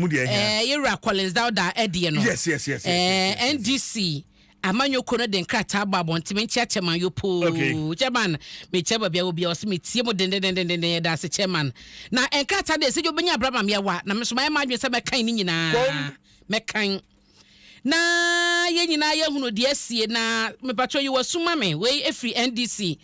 mu deɛ ɛhia. Ɛɛ yɛwura Collins Dauda ɛdeɛ no. Yes yes yes yes yes. Ɛɛ NDC amanyɔkuo no de nkrataa abɔ abɔnten menkyia chairman yopoo. Okay. Chairman mekyia baabi a wɔ biara ɔsɛ metie mu dendendenden yɛda ase chairman. Na nkrataa deɛ sɛ yɛ obɛnya abra ma meawa na meso mayɛ m'adwene sɛ mɛkan ne nyinaa. Kom. Mɛkan. na yɛn nyinaa yɛhunu deɛ asie na mepatwɔ yi wasu ma me wei ɛfiri NDC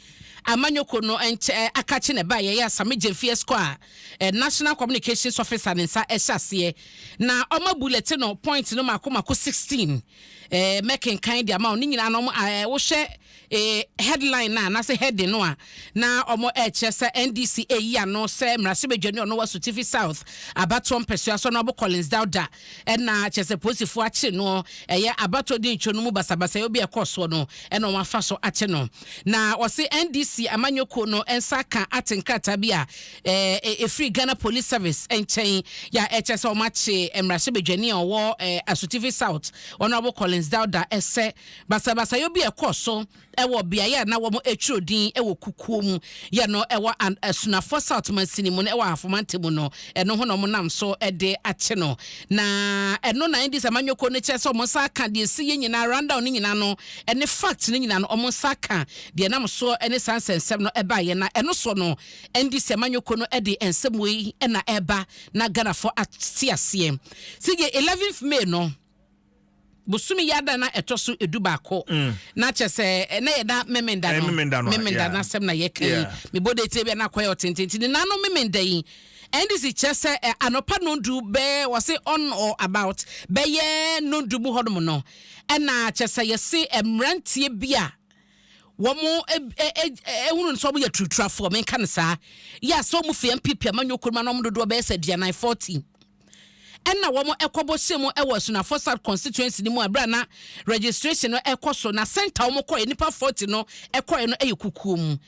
amanyɔko no nkyɛ akakye na ɛba yɛyɛ asame gyemfeɛ skɔ a eh, National Communications Officer ne nsa ɛhyɛ aseɛ na ɔma bulletin no point no mako mako 16 eh, mɛkenkan de ama wo ne nyinaa no eh, wohwɛ Ee, headline no a, anaasɛ heading no a na wɔrekyerɛ sɛ NDC reyi ano sɛ mmarahyɛbadwani a ɔno wɔ Asutifi South abatoɔ mpɛsoa so no abo Collins Dauda na kyerɛ sɛ polisifoɔ akye no ɛyɛ abatoɔ dinitwo no mu basabasayɔ bi a ɛkɔɔ soɔ no na wɔafa so akye no. Na wɔse NDC amanyɔ kuo no nsa aka ate nkrataa bi a ɛfiri Ghana Police Service nkyɛn yɛ a ɛkyerɛ sɛ wɔakye mmarahyɛbadwani a ɔwɔ Asutifi South ɔno abo Collins Dauda sɛ Basabasayɔ bi a ɛkɔɔ so wɔ beaeɛ a na wɔtwerɛ din wɔ kukuo mu yɛ no wɔ Asunafoɔ South mansini mu no wɔ Ahafo Mantam mu no, ɛno ho na wɔnam so de akye no. Na ɛno na Indies amanyɔkuo no kyerɛ sɛ wɔn nsa aka deɛ ɛsiiɛ nyinaa, rundown no nyinaa no ne facts no nyinaa no wɔn nsa aka deɛ ɛnam soɔ ne saa nsɛnsɛm no baeɛ. Na ɛno soɔ no Indies amanyɔkuo no de nsɛm wei na ɛreba na Ghanafoɔ ate aseɛ. Sɛ yɛ 11th May no, bosome yi ada na ɛtɔ so edu baako mm. na kyɛ sɛ ɛnɛ yɛ da memenda no memenda no asɛm na yɛka yi mebɔ de tie bi na akɔyɛ ɔtenten ti ne nano memenda yi ndc kyerɛ sɛ anɔpa nondu bɛɛ wɔse on or about bɛyɛ nondu mu hɔnom no ɛna kyɛ sɛ yɛse mmeranteɛ bi a wɔn ehunu nso wɔn yɛ turuturafoɔ menka no saa yɛ asɛ wɔn fia mpp amanyɔkuo mu anam dodoɔ bɛyɛ sɛ aduanan fourteen. Ɛna wɔn ɛkɔbɔ hyɛ mu ɛwɔ Asunafoɔ South Constituency no mu a berɛ a na registration no ɛkɔ so na centre a wɔn kɔɛ nipa 40 no ɛkɔɛ no ɛyɛ kukuo mu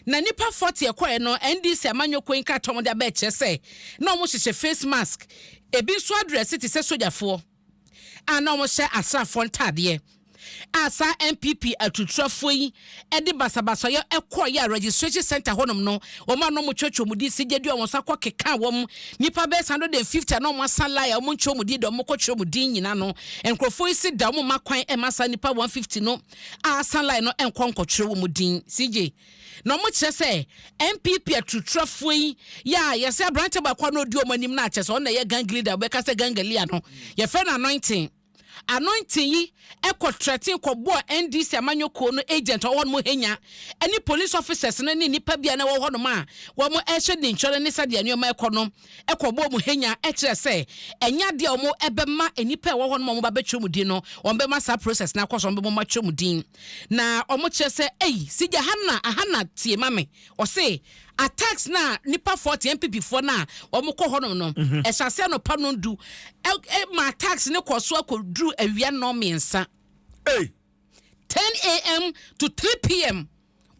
na nipa 40 ɛkɔɛ no NDC amanyɔ kuo nkrataa a wɔn de aba ɛkyerɛ sɛ na wɔn hyehyɛ face mask ebi nso adrɛse te sɛ sogyafoɔ a na wɔhyɛ asraafoɔ ntaadeɛ a saa NPP aturutrafoɔ yi de basabasayɔ kɔeɛ a registration centre hɔnom no wɔn a na wɔtwerɛtwerɛ wɔn din sɛ gyadua wɔn nso akɔkeka wɔn nnipa bɛyɛ 150 a na wɔasa line a wɔntwerɛ wɔn din da wɔkɔtwerɛ wɔn din nyina no nkurɔfoɔ yi se da wɔn ma kwan ma saa nnipa 150 no a asa line no nkɔ nkɔtwerɛ wɔn din CJ Na ɔmo kyerɛ sɛ NPP aturutrafoɔ yi yɛ a yɛsɛ aberanteɛ baako a na ɔdi ɔmo anim no a kyerɛ sɛ ɔno na ɛyɛ gang leader wobɛka sɛ gang leader no yɛfrɛ no Anointing Anointing yi ɛkɔ threaten kɔbɔɔ NDC amanyɔkuo no agent ɔwɔ hɔnom hanya ɛne police officers no ne nnipa bi a na ɛwɔ hɔnom a wɔn ɛhyɛ ne nkyɛn ne sɛdeɛ nneɛma ɛkɔ no kɔ wɔn mu henya kyerɛ sɛ ɛnyɛ adeɛ a wɔbɛma nnipa a ɛwɔ hɔ no ma wɔba bɛtwerɛ mu din no, wɔbɛma saa process no akɔ so, wɔbɛma wɔatwerɛ mu din. Na wɔkyerɛ sɛ, ei, Sigya Hannah, Ahana tie ma me, ɔse, attacks no a nnipa foɔ te NPP foɔ no a wɔkɔ hɔ nom no, ɛhyɛ aseɛ anɔpa nnɔndu, ma attacks no kɔ so akɔduru awia nnɔn mmiɛnsa. Ei! 10am to 3pm.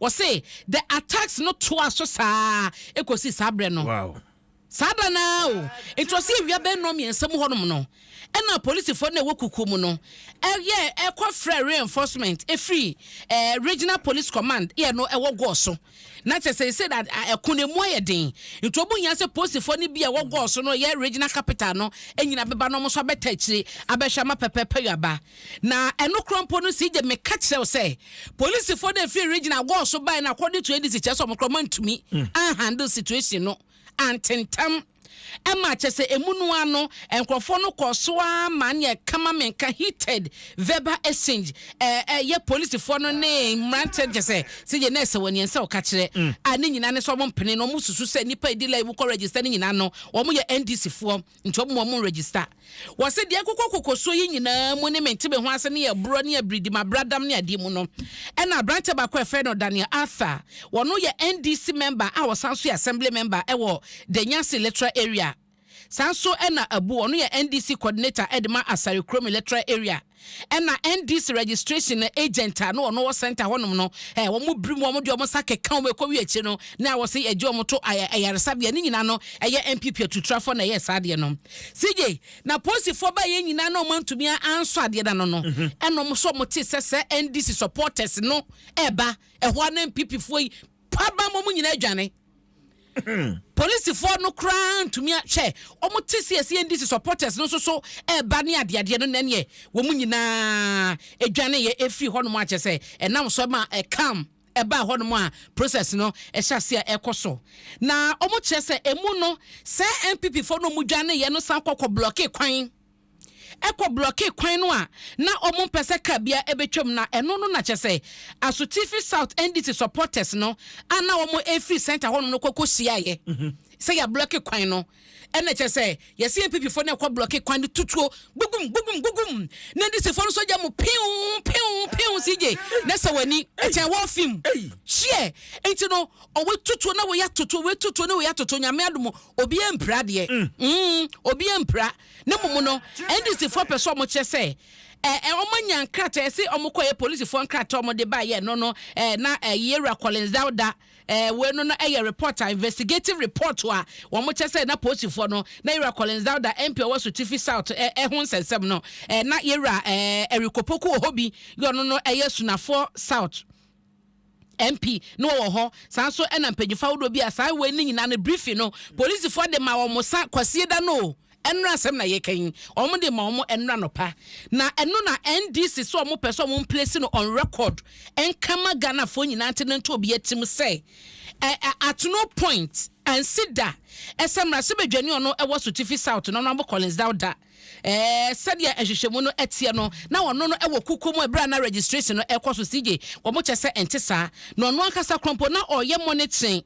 Wɔse the attacks no toa so saa kɔsi saa berɛ no. Wow. Saa da no ara o, nti wɔse awia bɛyɛ nnɔn mmiɛnsa mu hɔnom no, ɛna polisifoɔ no a ɛwɔ kukuo mu no ɛyɛ ɛkɔfrɛ reinforcement ɛfiri eh, Regional Police Command yɛ no ɛwɔ Gɔɔ so. Na kyɛ sɛ sɛ ɛko no emu ayɛ den nti wɔn hia sɛ polisifoɔ no bi a ɛwɔ gɔɔ so no yɛ regional capital no nyina bɛba na wɔn nso abɛta akyire abɛhwɛ ama pɛpɛɛpɛ yɛ aba na ɛno korɔ mpo no sɛ gye meka kyerɛ wo sɛ polisifoɔ no ɛfiri regional gɔɔ so bae na according to ADC kyerɛ sɛ wɔn korɔ mantumi mm. anhandle situation no antentam ɛma kyerɛ sɛ emu no ara no nkurɔfoɔ no kɔɔ so ara ma ne ɛka ma menka heated verbal exchange ɛyɛ polisifoɔ no ne mmeranteɛ kyɛ sɛ sɛ yɛ nɛɛsɛ wɔ neɛ nsɛ ɔka kyerɛ a ne nyinaa ne sɛ wɔn mpene no wɔn susu sɛ nipa ɛdi lai mu kɔ register ne nyinaa no wɔn yɛ NDC foɔ nti wɔn wɔn register Wɔse deɛ ɛkokɔ kokosoɔ yi nyinaa mu ne mente-me-ho-ase ne ɛborɔ ne abiridimabradam ne adeɛ mu no ɛna aberanteɛ baako a ɛfrɛ no Daniel Arthur, ɔno yɛ NDC mɛmba a ɔsan nso yɛ Assembly mɛmba ɛwɔ Danyasi Electoral Area. Saa nso ɛna Abu, ɔno yɛ NDC Coordinator ɛde ma Asare Kurom Electoral Area. Ɛna NDC registration agent a na ɔno wɔ center hɔnom no, eh, wɔn biri mu, wɔn de wɔn nsa keka wɔn ɛkɔ wie akyire no, na wɔsi ɛgye wɔn to ayaresabea. Ne nyinaa no, ɛyɛ NPP atutrafoɔ na ɛyɛ saa adeɛ no. CJ, na polisifoɔ baa yɛn nyinaa na wɔn antumi ansɔ adeɛ no ano no, ɛna wɔn nso wɔn te sɛ sɛ NDC supporters no ɛba ɛhɔ a na NPP foɔ yi pabam wɔn nyinaa adwane. Polisifoɔ no koraa ntumi a hwɛ wɔn te sɛ ɛsɛ NDC supporters no nso so ɛreba ne adeadeɛ no nɛneɛ wɔn nyinaa ɛdwane yɛ ɛfiri hɔ nom akyɛ sɛ ɛnam so ma ɛkam ɛbaa hɔ nom a process no ɛhyɛ ase a ɛkɔ so na wɔn kyerɛ sɛ ɛmu no sɛ NPP foɔ no wɔn dwane yɛ no san kɔkɔ blɔke kwan kɔ blɔkee kwan no a na wɔmpɛ sɛ car biara bɛtwam na ɛno no na kyerɛ sɛ Asutifi South NDC supporters no a na wɔrefiri centre hɔnom no kɔ kɔhyiaeɛ sɛ yɛablɔke kwan no ɛna kyerɛ sɛ yɛse NPP foɔ no ɛkɔ blɔke kwan no tutuo gugum gugum gugum na NDC foɔ no sogya mu pew pew pew CJ na sɛ w'ani ɛkyɛ wɔ fim hyeɛ nti no ɔwɔ tutuo na wɔyɛ atoto wɔyɛ tutuo na wɔyɛ atoto nyame adomo obiara mpira deɛ mm. mm, obiara mpira Na mmom no, NDCfoɔ pɛ sɛ wɔkyerɛ sɛ eh, wɔanya nkrataa ɛse wɔkɔyɛ polisifoɔ nkrataa a wɔde baeɛ ɛno no eh, na eh, yɛwura Collins Dauda eh, wei no no ɛyɛ report a investigative report a wɔkyɛ sɛ na polisifoɔ no na yɛwura Collins Dauda MP ɔwɔ so Tifi South eh, eh, ho nsɛnsɛm no eh, na yɛwura eh, Eric Opoku wɔ hɔ bi yɛ ɔno no ɛyɛ Sunafoɔ South MP no wɔwɔ hɔ, saa nso na mpanyinfo ahodoɔ bi a saa wei ne nyinaa no briefing no polisifoɔ de ma wɔn sa kwasie da no o, ɛnora asɛm na yɛka yi, wɔn de ma wɔn ɛnora nɔpa. Na ɛno na NDC so wɔn pɛ so wɔn mplesi no on record nkama Ghanafoɔ nyinaa nti no nto obi atim sɛ ɛ ɛ at no point ansi da ɛsɛ mmarahyɛbadwani ɔno ɛwɔ Sotifi South no no abo Collins Dauda sɛdeɛ nhwehwɛmu no teɛ no, na ɔno no wɔ kukuo mu ɛberɛ a na registration no ɛrekɔ so. CJ, Wɔn kyɛ sɛ ɛnte saa. Na ɔno ankasa korɔ mpo, na ɔreyɛ monitoring,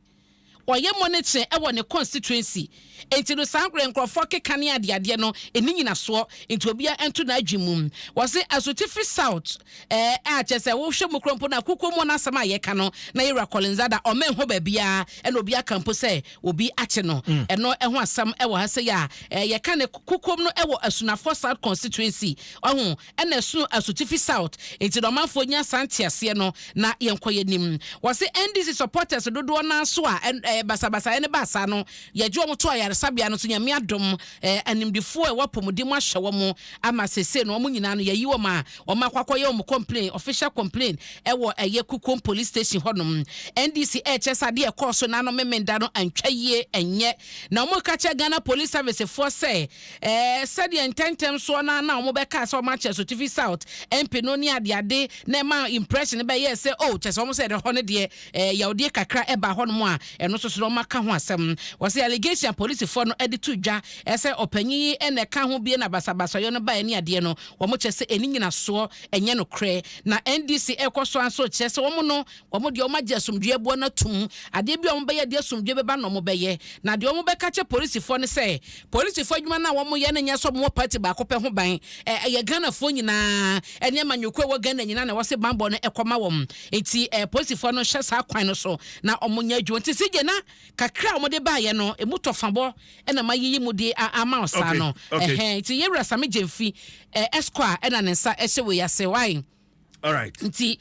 ɔreyɛ monitoring ɛwɔ ne constituency. Enti no saa mmerɛ nkorɔfoɔ keka ne adeadeɛ no ɛnni nyinasoɔ. Enti obiara nto n'adwene mu. Wɔse Asotifi South ɛɛ a kyɛ sɛ wohwɛ mu korɔ mpo no a kukuo mu no asɛm a yɛka no na yɛwura Collins Ada ɔmɛnhɔ baabiara ɛna obiara ka mpo sɛ obi akye no. Ɛno ho asɛm wɔ ha sɛ yɛ a eh, yɛka ne kokom no wɔ Asunafoɔ South Constituency. Ɔho, ɛna ɛsono Asutifi South. Nti na ɔmanfoɔ nya saa nteaseɛ no na yɛnkɔ yɛnim. Wɔse NDC supporters dodoɔ naa so a eh, basabasaeɛ no baa saa no, yɛgye wɔn to ayaresabea no so. Nyame adom eh, animdefoɔ a ɛwɔ apɔmuden mu ahyɛ wɔn ama sesei no wɔn nyinaa no yɛayi wɔn a wɔn akɔ akɔyɛ wɔn complain official complain ɛwɔ ɛyɛ Kukom police station hɔ nom NDC ɛɛkyɛ sɛ adeɛ ɛkɔɔ so nanom memenda no antwa yie ɛnyɛ na wɔn ka kyɛ Ghana police service foɔ sɛ ɛɛ sɛdeɛ ntɛntɛm soɔ na na wɔn bɛkaa sɛ wɔn akyɛ Sotifi South MP no ne adeade na ɛma impression bɛyɛɛ sɛ oh kyɛ sɛ wɔn sɛ ɛdɛ hɔ no deɛ eh, yawdie kakra ɛbaa hɔnom a ɛno nso so na wɔaka ho asɛm. Wɔse allegation a polisifoɔ no de to dwa sɛ ɔpanyin yi na ɛka ho bie na basabasayɔ no baeɛ ne adeɛ no, wɔn kyerɛ sɛ ɛnni nyinasoɔ, ɛnyɛ nokorɛ. Na NDC ɛrekɔ so ara nso kyerɛ sɛ wɔn no, wɔn deɛ wɔn agye asomdwoeɛ boɔ no atum. Adeɛ bi a wɔn bɛyɛ de asomdwoeɛ bɛba no na wɔn bɛyɛ. Na deɛ wɔn bɛka akyerɛ polisifoɔ ne sɛ, polisifoɔ adwuma no a wɔn yɛ no nyɛ sɛ wɔn wɔ party baako pɛ ho ban, eh, ɛyɛ Ghanafoɔ nyinaa ne amanyɔkuo a ɛwɔ Ghana nyinaa na ɛwɔ se banbɔ no kɔma wɔn. Enti apolisifoɔ no hyɛ saa kwan no so na wɔnyɛ adwuma. Nti CJ na kakra a wɔde baeɛ no, ɛmu tɔfabɔ na mayiyi mu de ama wo saa no. Ɛhɛn, nti Yewura Same Gyamfi, Ɛskɔ a na ne nsa hyɛ wei ase. Wai? Nti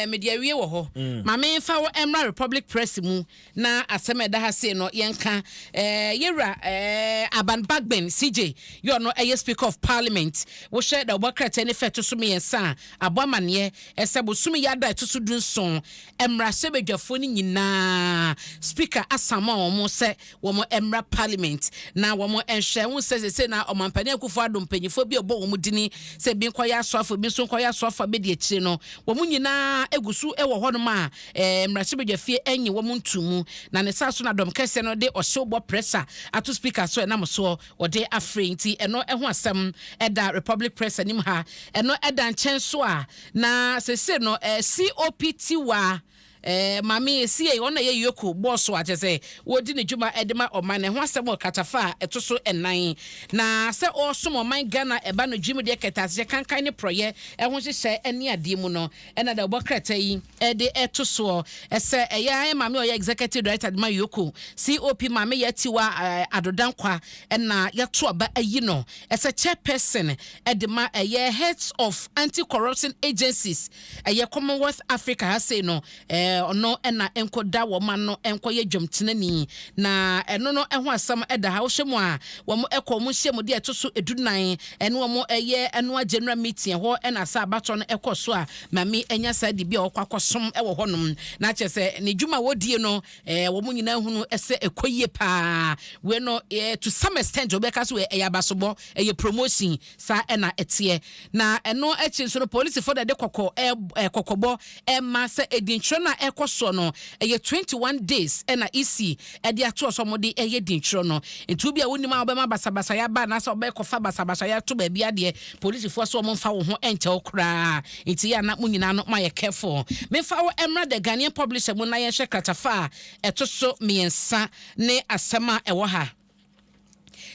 mede awie wɔ hɔ. Ma memfa wo mmra Republic Press mu Na asɛm a ɛda ha sei no, yɛnka eh, yɛ wura eh, Aban Bagbin CJ, yɛ ɔno ɛyɛ Speaker of Parliament. Wohwɛ na wɔbɔ krataa ne fɛ ɛto so mmiɛnsa a, abɔ amaneɛ ɛsɛ bosome yi ada ɛto so du nson, mmarahyɛbadwafoɔ no nyinaa Speaker asama wɔn sɛ wɔn mmra Parliament na wɔn nhwɛ. Wohu sɛ seesei na Ɔmampanin Akufo Addo mpanimfoɔ bi a ɛbɔ wɔn dini sɛ bi nkɔyɛ asoafo, bi nso nkɔyɛ asoafo a bɛdi akyire no, wɔn nyinaa gu so wɔ hɔnom a Mmarahyɛbadwafie nnye wɔn ntoo mu, na ne saa so na dɔm kɛseɛ no de ɔhyew bɔ pressure ato speaker so ɛnam soɔ wɔde afrɛ nti ɛno ho asɛm da Republic Press anim ha. Ɛno da nkyɛn nso a, na seesei no COP Tiwa Maame Esiei, ɔno na ɛyɛ Yoko boss a kyerɛ sɛ wɔdi ne dwuma de ma ɔman no ɛho asɛm wɔ kratafa a ɛto so nnan na sɛ ɔresom ɔman Ghana ɛba no dwumadie kɛtɛasehyɛ kankan ne porɔeɛ ho nhyehyɛe ne adeɛ mu no Ɛna da ɔbɔ krataa yi de to soɔ sɛ ɛyɛ ara maame a ɔyɛ Executive Director de ma Yoko COP Maame Yaa Tiwa Addo Dankwah na yɛato aba ayi no sɛ Chairperson de ma ɛyɛ Heads of Anti-Corruption Agencies ɛyɛ Commonwealth Africa ha sei no ɔno na nkɔ da wɔn ano nkɔ yɛ dwamtenani na ɛno no ho asɛm da ha wohwɛ mu a wɔn kɔ wɔn nhyiamudeɛ ɛto so du nan Ɛne wɔn yɛ ɛno a general meeting ɛhɔ na saa abatoɔ no ɛkɔ so a maame anya saa dibea a ɔkɔ akɔsom ɛwɔ hɔ nom na akyerɛ sɛ ne dwuma a ɔdie no ɛɛ wɔn nyinaa hunu sɛ ɛkɔ yie paa wei no ɛɛ to some extent ɔbɛka so ɛyɛ abasobɔ ɛyɛ promotion saa ɛna ɛteɛ na ɛno akyi nso no polisifo na ɛde kɔkɔ ɛɛ kɔkɔbɔ Ɛma sɛ dinnkyerɛ no a ɛkɔ soɔ no ɛyɛ twenty one days ɛna EC ɛde atoɔ sɛ wɔn de ɛyɛ dinnkyerɛ no. Nti wo bi a wo nim a wo bɛma basabasayɛ aba anaasɛ wo bɛkɔ fa basabasayɛ ato baabi adeɛ, polisifoɔ sɛ wɔn nfa wo ho nkyɛ wo koraa. Nti yɛ a na mo nyinaa no mo ayɛ careful. Me nfa wo ɛmmra The Ghanaian Publisher mu na yɛn hwɛ kratafa a ɛto so mmiɛnsa ne asɛm a ɛwɔ ha.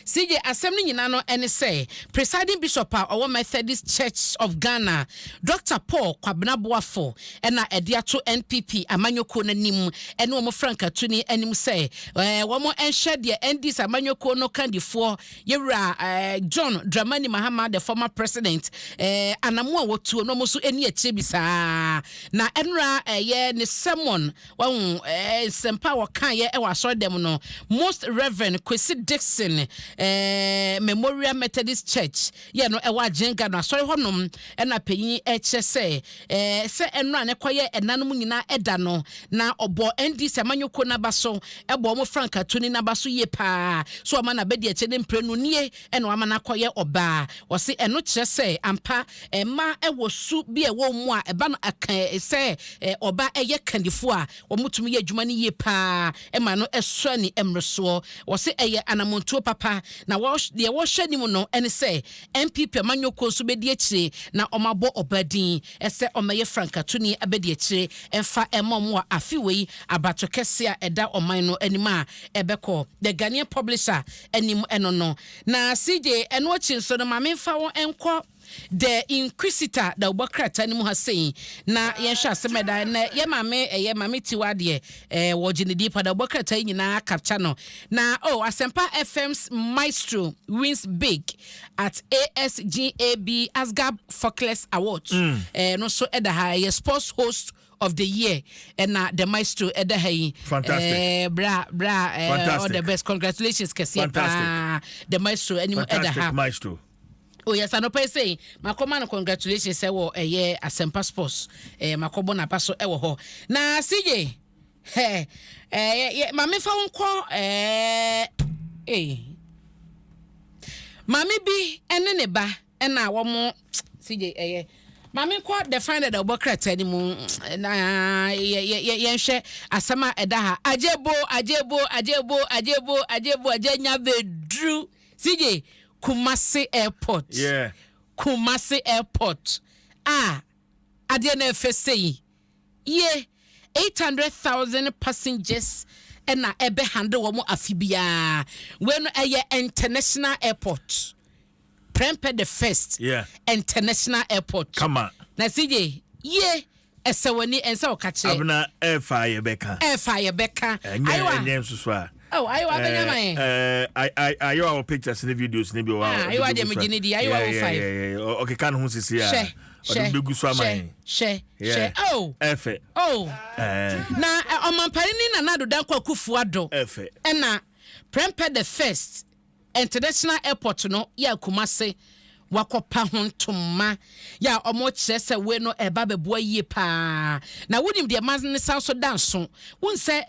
CJ, Asɛm no nyinaa no ne sɛ Presiding Bishop a ɔwɔ Methodist Church of Ghana, Dɔkta Paul Kwabena Boafo na ɛde ato NPP amanyɔkuo no anim ne wɔn frankatuni anim sɛ wɔnhwɛ deɛ NDC amanyɔkuo no kandifoɔ Yɛwura John Dramani Mahama, the former president, anamo a wɔtuo no wɔn nso ani akyire bi saa na ɛnora ɛyɛ ne sermon Wahu eh, nsɛmpa a wɔkaeɛ wɔ asɔredɛm no Most Reverend Kwesi Dixon eh, Memorial Methodist Church yɛ no ɛwɔ Agyenka no asɔre hɔnom ɛna panyin ɛkyerɛ sɛ eh, sɛ ɛnora ne kɔyɛ ɛnanom nyinaa ɛda no na ɔbɔ NDC amanyɔkuo n'aba so ɛbɔ wɔn frankatuni n'aba so yie paa so ɔma n'abɛdi akyɛ ne mprenu nie ɛna wama no akɔyɛ ɔbaa. Wɔse ɛno kyerɛ sɛ ampa mmaa wɔ su bi a ɛwɔ wɔn mu a ɛba no ka sɛ ɔba yɛ kandifoɔ a wɔtumi yɛ adwuma no yie pa ara ma no sɔ ani mmorosoɔ. Wɔse ɛyɛ anammɔntuo papa na deɛ wɔhwɛ anim no ne sɛ NPP amanyɔkuo nso bɛdi akyire na wɔabɔ ɔbaa din sɛ ɔmmɛyɛ frankatoni abadiakyire mfa mma wɔn wɔ afe wei abatokɛseɛ a ɛda ɔman no anim a ɛbɛkɔ. The Ghanaian Publisher anim no no na CJ ɛno akyi nso no ma me mfa wo nkɔ The Inquisitor dawubɔ krataa no mu ha sei na yɛnhwɛ asɛm ɛda na yɛ maame ɛyɛ maame tiwa adeɛ ɛɛ wɔgye ne din pa dawubɔ krataa yi nyinaa capture no na o oh, Asempa FM's maestro wins big at ASGAB Asgab Fockless Awards ɛɛ mm. eh, no so ɛda ha ɛyɛ sports host of the year ɛna the maestro ɛda ha yi fantastic eh, bra bra eh, fantastic. all the best congratulations kɛseɛ paa the maestro anim ɛda ha maestro oyɛ sa nɔpɛ sɛ makɔma no congratulations sɛ wɔ ɛyɛ asɛmpa sports eh, makɔbɔ n'aba so ɛwɔ hɔ na sigye eh, eh, maame fa wo nkɔ eh, eh. maame bi ɛne ne ba ɛna wɔn CJ ɛyɛ ma menkɔ the final da ɔbɔ krataa no mu na yɛnhwɛ asɛm a ɛda ha agyebo agyebo agyebo agyebo agyebo agya nya bɛduru CJ Kumasi airport yeah. Kumasi airport a ah, adeɛ no ɛfɛ sɛ yi ye 800,000 passengers ɛna ɛbɛ handle wɔn afi biara wei no ɛyɛ international airport Prempeh the first yeah. international airport. Kama. Na CJ, ye ɛsɛ w'ani ɛnsɛ ɔka kyerɛ. Abena ɛfa yɛ bɛka. Ɛfa yɛ bɛka. Ɛnyɛ ɛnyɛ nsoso a. Oh, ayiwa abɛnya ma yɛ. Ɛɛ ayiwa wɔ pictures ne videos ne bi wɔ. Ah, ayiwa deɛ mo gyini di ayiwa wɔ five. Ɔkeka ne ho sisi a. Hyɛ hyɛ hyɛ hyɛ hyɛ oh. Ɛfɛ. Oh. Ɛɛ. Na ɔmampanin Nana Addo Dankwa Akufo-Addo. Ɛfɛ. Ɛna prempeh the first. International airport no yɛ Kumase wakɔpa ho ntoma yɛ a wɔkyerɛ sɛ wei no ɛba bɛboa yie paa na wonim deɛ ma ne san so da nso wohu sɛ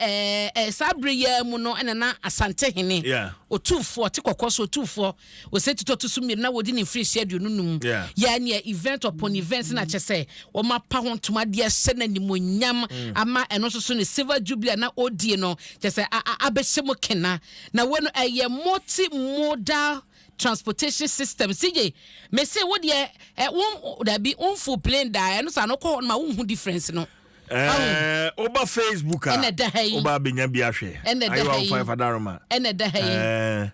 ɛɛ saa bere yɛ mu no ɛna na asante hene otuufoɔ te kɔkɔɔ so otuufoɔ ɔsɛ titɔ to so mmienu na wɔdi ne mfiri hyia aduonu num yɛ neɛ event upon event na kyɛ sɛ wɔn apa ho ntoma deɛ hyɛ no animonyam mm. ama ɛno nso so ne silver jubilee na ɔdie no kyɛ sɛ abɛhyɛ mu kena Na wei no ɛyɛ multi modal transportation system CJ me se wo deɛ ɛ wo dabi wo nfo plane da ɛno sa no kɔ hɔ no ma wo nhu difference no. Ɛɛ woba Facebook a ɛna da ha yi woba abɛnya bi ahwɛ ɛna da ha yi ayiwa fadaroma ɛna da ha yi ɛɛ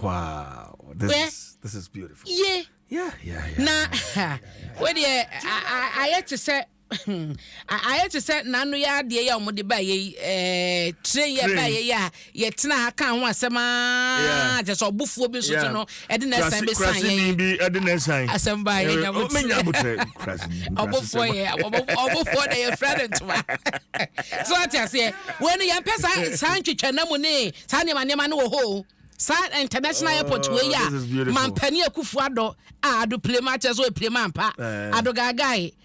wow this is this is beautiful. Ye yeah yeah yeah na wo deɛ ayɛ te sɛ. Ayɛ te sɛ n'ano yɛ adeɛ yi a wɔde baa yɛ yi ɛɛ train yɛ baa yɛ yi a yɛtena ha kaa ho asɛm aa kyɛ sɛ ɔbofoɔ bi nso nso no ɛde na ɛsan bɛ san yɛ yi bi ɛde na ɛsan asɛm baa yɛ nya bɛ nya bɛ tɛ ɔbofoɔ yɛ ɔbofoɔ na yɛ fira ne ntoma so ate aseɛ wɔn no yɛn pɛ saa saa ntwitwa na mu ne saa nneɛma nneɛma no wɔ hɔ o saa international airport wɔ yi a mampanin akufu adɔ a ado pile ma kyɛ so pile ma mpa ado gaagaa yi.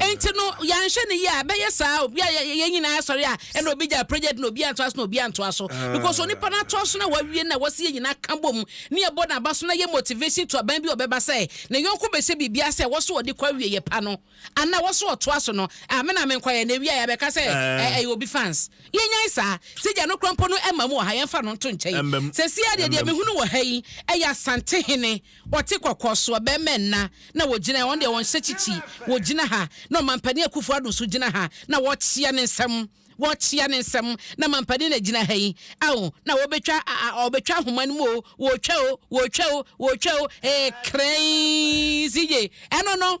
Enti no, yɛanhwɛ no yie a, ɛbɛyɛ saa obi a yɛn nyinaa sɔre a, ɛna obi gya project na obi antoa so na obi antoa so. Ah. Because onipa no atoa so na wawie na wɔsi yɛn nyinaa ka bom ne ɛbɔ n'aba so na yɛ motivation to aban bi ɔbɛba sɛ ne yɔnko bɛhyɛ biribi ase a wɔso ɔde kɔ awie yɛ pa no ana wɔso ɔtoa so no a me na menkɔ yɛ na ewie a yɛbɛka sɛ ah. ɛyɛ obi fans yɛnyan saa sɛ gya no kora mpo no ɛma mu wɔ ha yɛmfa no nto nkyɛn sɛ si adeɛ deɛ mehunu wɔ ha yi ɛyɛ asante hene Ɔte kɔkɔɔ soɔ bɛɛma nna na wɔgyina ha wɔn deɛ wɔnhyɛ kyikyi wɔgyina ha na ɔmampanin Akufo Addo nso gyina ha na wɔrekyea ne nsam wɔrekyea ne nsam na mampanin na gyina ha yi ao na wɔbɛtwa a wɔbɛtwa ahoma no mu o wɔretwa o wɔretwa o wɔretwa o ee krɛɛnn si ye ɛno no.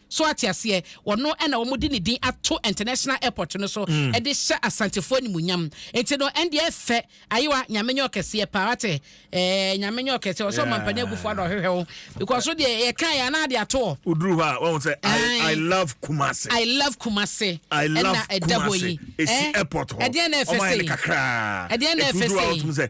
So ate aseɛ? Ɔno na wɔde ne din ato International Airport no so de hyɛ Asantefoɔ animuonyam. Nti no, ɛndeɛ ɛfɛ. Ayewa, Nyame nyɛ ɔkɛseɛ paa, wate? Ɛɛ, Nyame nyɛ ɔkɛseɛ. Ɔsɛ ɔmampanin agufoɔ na ɔhwehwɛ wo, because wo deɛ yɛkaeɛ a na ade ato hɔ. Woduru hɔ a, wahu sɛ I, I love Kumasi. I love Kumasi. I love Kumasi. Ɛsi airport hɔ. Ɛdeɛn na ɛfɛ sei? Ɛdeɛn na ɛfɛ sei? Ɛti woduru hɔ a, wotumi sɛ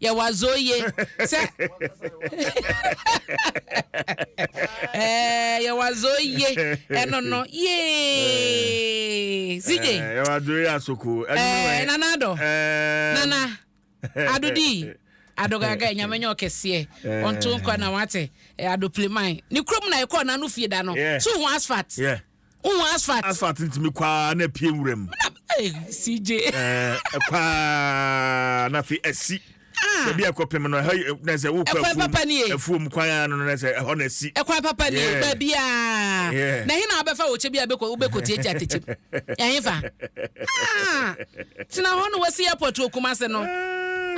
yɛ w'adzoye sɛ ɛɛ yɛ w'adzoye ɛno no yee cj yɛ w'adzoye asoko ɛɛ nana adɔ nana adodi adogaga nyame nyɛ ɔkɛseɛ ɔnto nkwa na wate adopileman ne kurom na ɛkɔɔ n'ano fie da no so ho asphalt. Yeah. Wohu asphalt? Asphalt ntumi kɔ ara na apue nwuram. CJ. Ɛkɔ ara na afei asi. Ah. Baabi a ɛkɔpem no ɛhɔ eh, na sɛ wokɔ afuom afuom kwan ara no na sɛ ɛhɔ na asi. Ɛkwan papa ni baabi a. Na ɛhe na wabɛfa wɔ kyɛ bi a wobɛkɔ tie gya tɛkyɛm. Ɛhe fa. Ah. Tena hɔ na wasi airport wɔ Kumase no.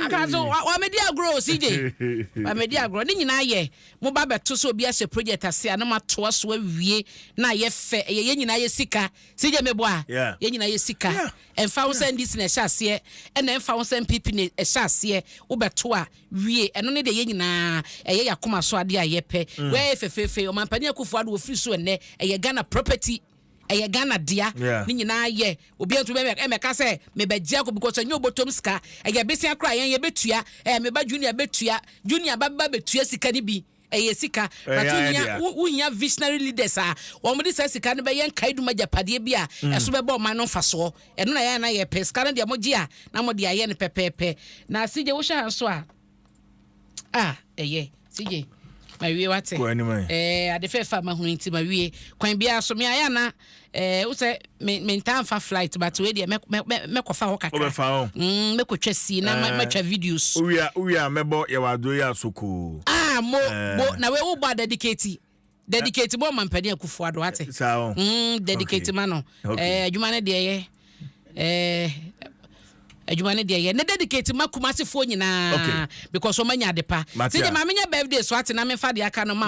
Aka so wamedi agorɔ o CJ. Wamedi agorɔ ne nyinaa yɛ Mo ba bɛto sɛ obi ahyɛ project ase a na mo atoa so awie na ayɛ fɛ ɛyɛ yɛn nyinaa yɛ sika CJ mebo a yɛn nyinaa yɛ sika ɛnfa ho sɛ NDC na ɛhyɛ aseɛ ɛna ɛnfa ho sɛ NPP na ɛhyɛ aseɛ wo bɛto a wie ɛno ne deɛ yɛn nyinaa ɛyɛ yɛn akoma so adeɛ a yɛpɛ wei ayɛ fɛfɛɛfɛ yi Ɔmanpanin Akuffo Addo ɔfiri so ɛnnɛ ɛyɛ Ghana property. Ɛyɛ Ghana dea. Ne nyinaa yɛ. Obiara ntumi bɛba ɛmmɛka sɛ mebɛgye akɔ because ɛnyɛ obotom sika. Ɛyɛ besia koraa yɛn yɛbɛtua. Ɛɛ me ba Junior bɛtua. Junior ba ba bɛtua sika no bi. Ɛyɛ sika. But wohia wohia visionary leaders a wɔde saa sika no bɛyɛ nkaedum agyapadeɛ bi a ɛso bɛba ɔman no mfasoɔ. Ɛno na yɛn a na yɛpɛ. Sika no deɛ mogye a na mode ayɛ no pɛpɛɛpɛ. Na CJ wohwɛ ha nso a. a ɛyɛ cj mawie wate eh, ade fɛfa mahunu nti mawie kwan biara so me ayɛ na eh, wo sɛ mentaa mfa flight but wei deɛ mɛkɔfa hɔ kakra mm, mɛkɔtwa sii na eh. matwa videos wowia mɛbɔ yɛwɔ aduro yɛ asokoo ah, mo eh. bo na wei wobɔ adadikati Dedicate bɔ ma mpanin akufo ado ate. Eh, saa o. Mm, dedicate okay. ma no. Okay. Eh, adwuma ne deɛ yɛ. Eh, adwuma ne deɛ yɛ. Ne dedicate ma kumasefoɔ nyinaa. Okay. Because wɔn anya adepa. Sɛ deɛ maame nya birthday so ate na mefa deɛ aka no ma.